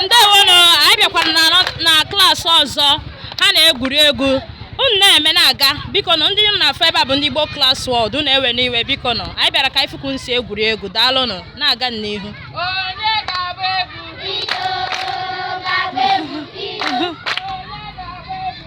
ndewonụ anyị bịakwara na klaasị ọzọ ha na-egwuri egwu unu na-eme na-aga biko nụ ndị unu na-afụ ebe a bụ ndị Igbo Class World unu ewena iwe biko nụ anyị bịara ka anyị fụ ka unu si egwuri egwu daalụnụ na-aga n'ihu Onye ga-agba egwu?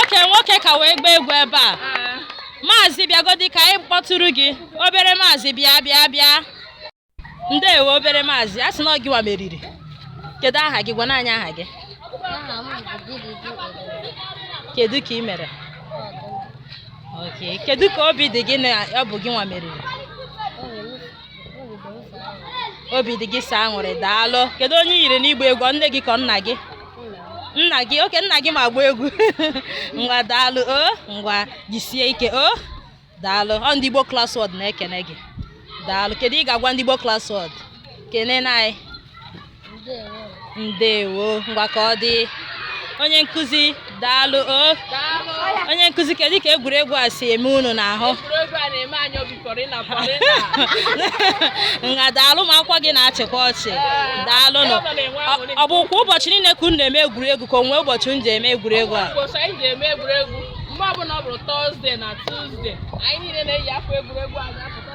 oke nwoke ka wee gbaa egwu ebe a maazị bịagodi ka anyị kpọtụrụ gị obere maazị bịa bịa bịa ndewo obere maazị a sị na ọ gị nwa meriri kedu aha gị gwanụ anyị aha gị Aha m bụ Chidiebere. kedu ka ị mere Oke, kedu ka obi dị gị na ọ bụ gị nwa meriri obi dị gị sọ aṅụrị daalụ kedu onye i yiri n'igba egwu ọ nne gị ka ọ nna gị nna gị oke nna gị ma agba egwu ngwa daalụ o ngwa jisie ike o daalụ ọ ndị Igbo Class World na-ekene gị daalụ kedu ihe ị ga-agwa ndị Igbo Class World kenenụ anyị ndewo ngwa ka ọ dị onye nkụzi daalụ o onye nkụzi kedu ka egwuregwu a si eme unu n'ahụ egwuregwu a na-eme anyị obi polina polina ngwa daalụ ụmụ akwụkwọ gị na-achịkwa ọchị daalụ nụ ọ bụ kwa ụbọchị niile ka unu na-eme egwuregwu ka o nwe ụbọchị unu ji eme egwuregwu a ụbọchị anyị ji eme egwuregwu mgbe ọbụla ọ bụrụ Thursday na Tuesday anyị niile na-eyi akwa egwuregwu anyị apụta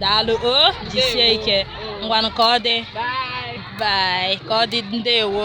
daalụ o jisie ike ngwanụ ka ọ dị bye ka ọ dị ndewo